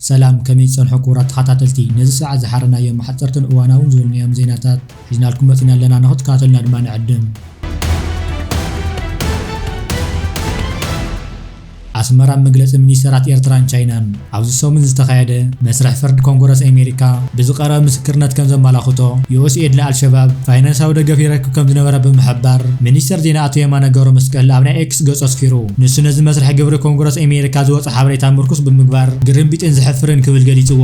ሰላም ከመይ ትጸንሑ ክቡራት ተኻታተልቲ ነዚ ሰዓት ዝሓረናዮም ሓጸርትን እዋናውን ዝበልናዮም ዜናታት ሒዝናልኩም መፂና ኣለና ንክትከታተሉና ድማ ንዕድም። ኣስመራ መግለፂ ሚኒስተራት ኤርትራን ቻይናን ኣብዚ ሰሙን ዝተኻየደ መስርሕ ፍርድ ኮንጎረስ ኣሜሪካ ብዝቐረበ ምስክርነት ከም ዘመላኽቶ ዩኤስኤድ ንኣልሸባብ ፋይናንሳዊ ደገፍ ይረክብ ከም ዝነበረ ብምሕባር ሚኒስተር ዜና ኣቶ የማነ ገብረ መስቀል ኣብ ናይ ኤክስ ገጹ ኣስፊሩ ንሱ ነዚ መስርሕ ግብሪ ኮንግረስ ኣሜሪካ ዝወፀ ሓበሬታ ምርኩስ ብምግባር ግርምቢጥን ዘሕፍርን ክብል ገሊጽዎ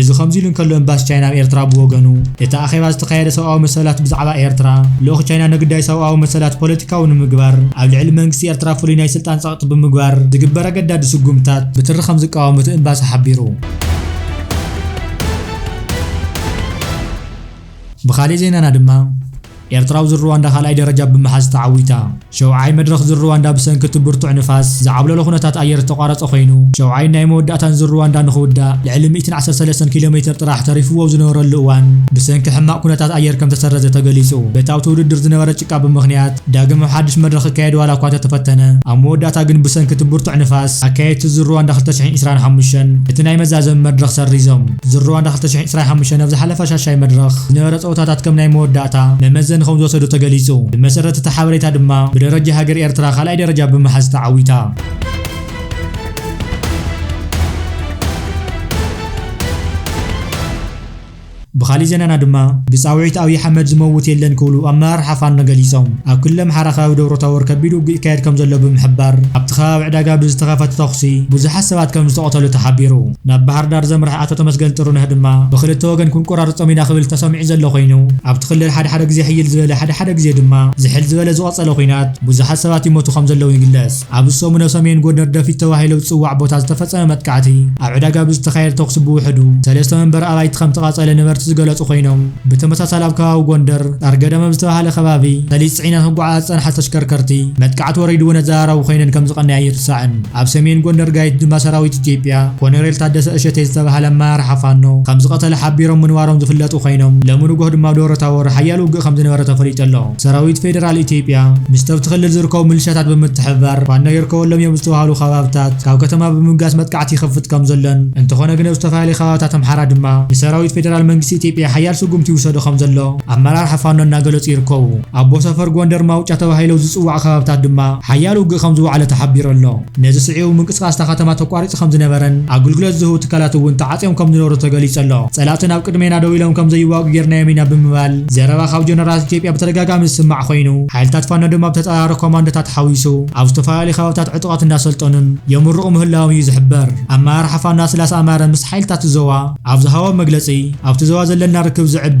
እዚ ከምዚ ኢሉ እንከሎ ኤምባሲ ቻይና ኣብ ኤርትራ ብወገኑ፣ እቲ ኣኼባ ዝተኻየደ ሰብኣዊ መሰላት ብዛዕባ ኤርትራ፣ ልኡኽ ቻይና ንግዳይ ሰብኣዊ መሰላት ፖለቲካዊ ንምግባር ኣብ ልዕሊ መንግስቲ ኤርትራ ፍሉይ ናይ ስልጣን ጸቕጢ ብምግባር ዝግበር ኣገዳዲ ስጉምትታት ብትሪ ከም ዝቃወም እቲ ኤምባሲ ሓቢሩ። ብኻልእ ዜናና ድማ፣ ኤርትራዊ ዝርዋንዳ ካልኣይ ደረጃ ብምሓዝ ተዓዊታ። ሸውዓይ መድረኽ ዝርዋንዳ ብሰንኪ እቲ ብርቱዕ ንፋስ፣ ዝዓብለሎ ኩነታት ኣየር ዝተቋረጸ ኮይኑ፣ ሸውዓይን ናይ መወዳእታን ዝርዋንዳ ንኽውዳእ ልዕሊ ሚእትን ዓሰርተ ሰለስተን ኪሎ ሜተር ጥራሕ ተሪፍዎ ኣብ ዝነበረሉ እዋን፣ ብሰንኪ ሕማቕ ኩነታት ኣየር ከምተሰረዘ ተገሊጹ። በቲ ኣብቲ ውድድር ዝነበረ ጭቃ ብምኽንያት፣ ዳግም ኣብ ሓድሽ መድረኽ ክካየድ ዋላ እኳ እንተተፈተነ፣ ኣብ መወዳእታ ግን ብሰንኪ እቲ ብርቱዕ ንፋስ፣ ኣካየድቲ ዝርዋንዳ ክልተ ሽሕን ዒስራን ሓሙሽተን እቲ ናይ መዛዘሚ መድረኽ ሰሪዞም። ዝርዋንዳ ክልተ ሽሕን ዒስራን ሓሙሽተን ኣብ ዝሓለፈ ሻሻይ መድረኽ ዝነበረ ጸወታታት ከም ናይ መወዳእታ መመዘኒ ከም ዝወሰዱ ተገሊጹ። ብመሰረት እቲ ሓበሬታ ድማ ብደረጃ ሃገር ኤርትራ ካልኣይ ደረጃ ብምሓዝ ተዓዊታ። ብኻሊእ ዜናና ድማ ብጻውዒት ኣብይ ኣሕመድ ዝመውት የለን ክብሉ ኣመራርሓ ፋኖ ገሊጾም። ኣብ ክልል ኣምሓራ ከባቢ ደብረ ታቦር ከቢድ ውግእ ይካየድ ከምዘሎ ብምሕባር ኣብቲ ከባቢ ዕዳጋ ብዝተኸፈተ ተኹሲ ብዙሓት ሰባት ከምዝተቐተሉ ተሓቢሩ። ናብ ባህርዳር ዘምርሐ ኣቶ ተመስገን ጥሩነህ ድማ ብኽልተ ወገን ክንቆራርፆም ኢና ክብል ተሰሚዑ ዘሎ ኮይኑ ኣብቲ ክልል ሓደ ሓደ ግዜ ሕይል ዝበለ ሓደ ሓደ ግዜ ድማ ዝሕል ዝበለ ዝቐፀለ ኹናት ብዙሓት ሰባት ይሞቱ ከምዘለዉ ይግለፅ። ኣብ ዝሰሙነ ሰሜን ጎንደር ደፊት ተባሂሎ ዝፅዋዕ ቦታ ዝተፈፀመ መጥቃዕቲ ኣብ ዕዳጋ ብዝተኻየደ ተኹሲ ብውሕዱ ሰለስተ መንበሪ ኣባይቲ ከምተቓፀለ ነበርቲ ዝገለፁ ኮይኖም ብተመሳሳሊ ኣብ ከባቢ ጎንደር ጣርገደም ኣብ ዝተብሃለ ከባቢ ሰሊጥ ፅዒነን ክጓዓዛ ዝፀንሓ ተሽከርከርቲ መጥቃዕቲ ወሪድወን ኣዘራራቢ ኮይነን ከምዝቐነያ ኣይርሳዕን። ኣብ ሰሜን ጎንደር ጋይት ድማ ሰራዊት ኢትዮጵያ ኮነሬል ታደሰ እሸቴ ዝተብሃለ ኣመራርሓ ፋኖ ከምዝቐተለ ሓቢሮም ምንባሮም ዝፍለጡ ኮይኖም ሎሚ ንጎህ ድማ ኣብ ደብረታቦር ሓያል ውግእ ከምዝነበረ ተፈሊጡ ኣሎ። ሰራዊት ፌደራል ኢትዮጵያ ምስተብቲ ክልል ዝርከቡ ምልሻታት ብምትሕብባር ፋኖ ይርከበሎም እዮም ዝተብሃሉ ከባብታት ካብ ከተማ ብምብጋስ መጥቃዕቲ ይኸፍት ከምዘሎን እንተኾነ ግን ኣብ ዝተፈላለዩ ከባብታት ኣምሓራ ድማ ንሰራዊት ፌደራል መንግስቲ ኢትዮጵያ ሓያል ስጉምቲ ይውሰዶ ከምዘሎ ኣመራርሓ ፋኖ እናገለፁ ይርከቡ። ኣቦ ሰፈር ጎንደር ማውጫ ተባሂለው ዝጽዋዑ ከባብታት ድማ ሓያል ውግእ ከም ዝወዓለ ተሓቢሩ ኣሎ። ነዚ ስዒቡ ምንቅስቓስ እታ ከተማ ተቋሪጹ ከም ዝነበረን ኣግልግሎት ዝህቡ ትካላት እውን ተዓጽዮም ከም ዝነበሩ ተገሊጹ ኣሎ። ጸላእትና ኣብ ቅድሜና ደው ኢሎም ከም ዘይዋግኡ ጌርናዮም ኢና ብምባል ዘረባ ካብ ጀነራላት ኢትዮጵያ ብተደጋጋሚ ዝስማዕ ኮይኑ፣ ሓይልታት ፋኖ ድማ ብተጻራሪ ኮማንዶታት ሓዊሱ ኣብ ዝተፈላለዩ ከባብታት ዕጡቓት እናሰልጠኑን የምርቑ ምህላዎም እዩ ዝሕበር። ኣመራርሓ ፋኖ ኣስላሰ ኣማረ ምስ ሓይልታት እቲ ዞባ ኣብ ዝሃቦ መግለጺ፣ ኣብቲ ዞባ ዘለና ርክብ ዘዕቢ፣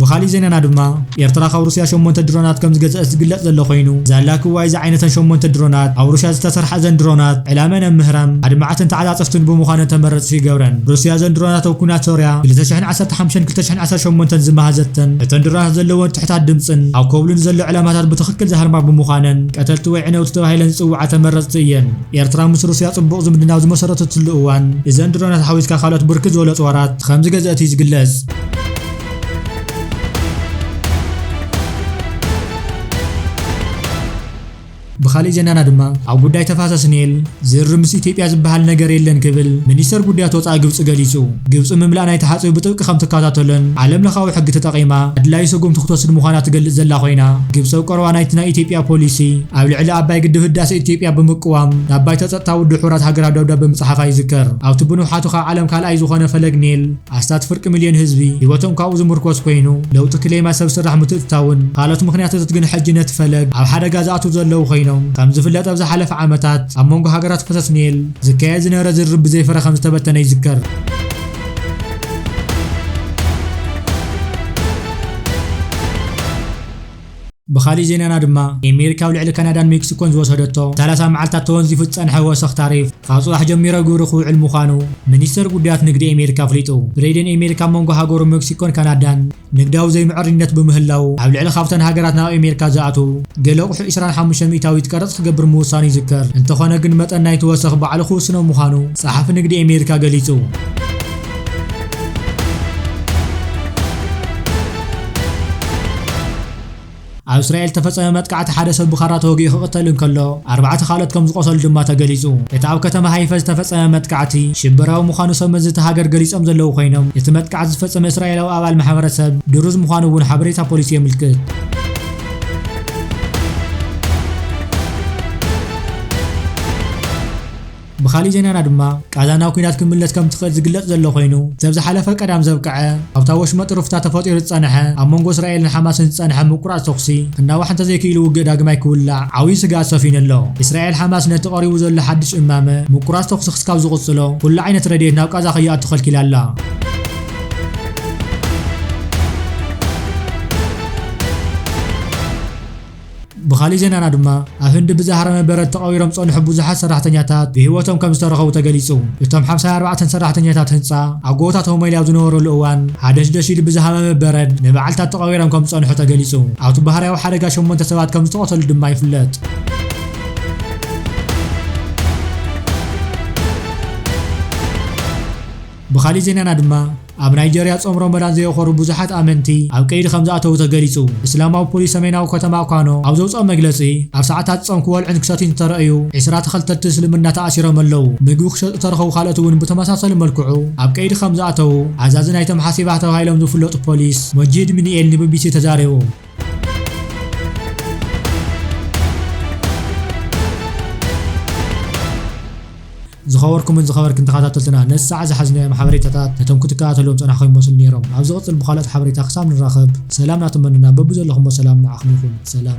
ብኻሊእ ዜናና ድማ ኤርትራ ካብ ሩስያ ሸሞንተ ድሮናት ከምዝገዘእት ዝግለጽ ዘሎ ኮይኑ ዛላ ክዋይ ዝዓይነተን ሸሞንተ ድሮናት ኣብ ሩስያ ዝተሰርሓ እዘን ድሮናት ዕላመኣን ኣብ ምህራም ኣድማዕትን ተዓጻጸፍትን ብምዃነን ተመረጽቲ ይገብረን ሩስያ እዘን ድሮናት ኣብ ኩናት ሶርያ ክልተ ሽሕን ዓሰርተ ሓምሸን ክልተ ሽሕን ዓሰርተ ሸሞንተን ዝመሃዘተን እተን ድሮናት ዘለወን ትሕታት ድምጽን ኣብ ኮብሉ ንዘሎ ዕላማታት ብትኽክል ዝሃርማ ብምዃነን ቀተልቲ ወይ ዕነውቲ ተባሂለን ዝጽውዓ ተመረጽቲ እየን ኤርትራ ምስ ሩስያ ጽቡቕ ዝምድና ኣብ ዝመሰረተትሉ እዋን እዘን ድሮናት ሓዊስካ ካልኦት ብርክት ዝበሉ ኣጽዋራት ከምዝገዘእት እዩ ዝግለጽ። ብኻሊእ ዜናና ድማ ኣብ ጉዳይ ተፋሰስ ኔል ዝርርብ ምስ ኢትዮጵያ ዝበሃል ነገር የለን ክብል ሚኒስተር ጉዳያት ወጻኢ ግብጺ ገሊጹ። ግብጺ ምምላእ ናይቲ ሓጽቢ ብጥብቂ ከም ትከታተሎን ዓለም ለኻዊ ሕጊ ተጠቒማ ኣድላዩ ሰጉምቲ ክትወስድ ምዃና ትገልጽ ዘላ ኮይና ግብጺ ኣብ ቀረባ ናይቲ ናይ ኢትዮጵያ ፖሊሲ ኣብ ልዕሊ ኣባይ ግድብ ህዳሰ ኢትዮጵያ ብምቅዋም ናብ ባይቶ ጸጥታ ውድብ ሕቡራት ሃገራት ደብዳበ ምጽሓፋ ይዝከር። ኣብቲ ብንውሓቱ ካብ ዓለም ካልኣይ ዝኾነ ፈለግ ኔል ኣስታት ፍርቂ ሚልዮን ህዝቢ ህይወቶም ካብኡ ዝምርኮስ ኮይኑ፣ ለውጢ ክሌማ፣ ሰብ ስራሕ ምትእትታውን ካልኦት ምኽንያትትት ግን ሕጂ ነቲ ፈለግ ኣብ ሓደጋ ዝኣትው ዘለው ኮይኖም፣ ከም ዝፍለጥ ኣብ ዝሓለፈ ዓመታት ኣብ መንጎ ሃገራት ፈሰስ ኒል ዝካየድ ዝነበረ ዝርርብ ብዘይ ፍረ ከም ዝተበተነ ይዝከር። ብኻሊእ ዜናና ድማ፣ ኤሜሪካ ኣብ ልዕሊ ካናዳን ሜክሲኮን ዝወሰደቶ ንሳላሳ መዓልታት ተወንዚፉ ዝጸንሐ ወሰኽ ታሪፍ፣ ካብ ጽባሕ ጀሚሮ ግብሪ ክውዕል ምዃኑ፣ ሚኒስተር ጉዳያት ንግዲ ኤሜሪካ ኣፍሊጡ። ብሬደን ኤሜሪካ ኣብ መንጎ ሃገሩ መክሲኮን ካናዳን ንግዳዊ ዘይምዕርይነት ብምህላዉ፣ ኣብ ልዕሊ ካብተን ሃገራት ናብ ኤሜሪካ ዝኣትዉ ገለ ኣቑሑ ዕስራን ሓሙሽተን ሚእታዊት ቀረጽ ክገብር ምውሳኑ ይዝከር። እንተኾነ ግን መጠን ናይቲ ወሰኽ ባዕሉ ክውስኖ ምዃኑ ጸሓፊ ንግዲ ኤሜሪካ ገሊጹ። ኣብ እስራኤል ዝተፈጸመ መጥቃዕቲ ሓደ ሰብ ብኻራ ተወጊኡ ክቕተል እንከሎ፣ ኣርባዕተ ካልኦት ከም ዝቖሰሉ ድማ ተገሊጹ። እቲ ኣብ ከተማ ሃይፈ ዝተፈጸመ መጥቃዕቲ፣ ሽበራዊ ምዃኑ ሰብመዚ እታ ሃገር ገሊጾም ዘለዉ ኮይኖም፣ እቲ መጥቃዕቲ ዝፈጸመ እስራኤላዊ ኣባል ማሕበረሰብ ድሩዝ ምዃኑ እውን ሓበሬታ ፖሊስ የምልክት። ብኻሊእ ዜናና ድማ ቃዛ ናብ ኲናት ክትምለስ ከም ትኽእል ዝግለጽ ዘሎ ኮይኑ፣ ሰብ ዝሓለፈ ቀዳም ዘብቀዐ ኣብታ ወሽመጥ ሩፍታ ተፈጢሩ ዝጸንሐ ኣብ መንጎ እስራኤልን ሓማስን ዝጸንሐ ምቁራጽ ተኹሲ ክናዋሕ እንተዘይክኢሉ ውግእ ዳግማይ ክውላዕ ዓብዩ ስግኣት ሰፊኑ ኣሎ። እስራኤል ሓማስ ነቲ ቀሪቡ ዘሎ ሓድሽ እማመ ምቁራጽ ተኹሲ ክስካብ ዝቕጽሎ ኩሉ ዓይነት ረድኤት ናብ ቃዛ ከይኣቱ ከልኪላ ኣላ። እዩ። ብኻሊእ ዜናና ድማ ኣብ ህንዲ ብዝሃረመ በረድ ተቐቢሮም ዝጸንሑ ብዙሓት ሰራሕተኛታት ብህይወቶም ከምዝተረኸቡ ተገሊጹ። እቶም ሓምሳን ኣርባዕተን ሰራሕተኛታት ህንጻ ኣብ ጎቦታት ሆመይሊ ኣብ ዝነበሩሉ እዋን ሃደሽደሽ ኢሉ ብዝሃመመ በረድ ንመዓልታት ተቐቢሮም ከምዝጸንሑ ተገሊጹ። ኣብቲ ባህርያዊ ሓደጋ ሸሞንተ ሰባት ከምዝተቐተሉ ድማ ይፍለጥ። ብኻሊእ ዜናና ድማ፣ ኣብ ናይጀርያ ጾም ሮሞዳን ዘየኾሩ ብዙሓት ኣመንቲ ኣብ ቀይዲ ከምዝኣተዉ ተገሊጹ። እስላማዊ ፖሊስ ሰሜናዊ ከተማ ኳኖ ኣብ ዘውጽኦ መግለጺ፣ ኣብ ሰዓታት ጾም ክወልዑን ክሰትዩን ዝተረእዩ ዕስራ ተኸተልቲ እስልምና ተኣሲሮም ኣለዉ። ምግቢ ክሸጡ ዝተረኸቡ ካልኦት'ውን ብተመሳሳሊ መልክዑ ኣብ ቀይዲ ከምዝኣተዉ ኣዛዚ ናይቶም ሓሲባህ ተባሂሎም ዝፍለጡ ፖሊስ ሞጂድ ሚኒኤል ንቢቢሲ ተዛሪቡ። ዝኸበርኩምን ዝኸበርክን ተኸታተልትና ነዚ ሰዓት ዝሓዝናዮም ሓበሬታታት ነቶም ክትከታተልዎም ጸናሕኩም ይመስሉ ነይሮም ኣብ ዝቕጽል ብኻልኦት ሓበሬታ ክሳብ ንራኸብ ሰላም ናተመነና በብዘለኹሞ ሰላም ንዓኹም ይኹን ሰላም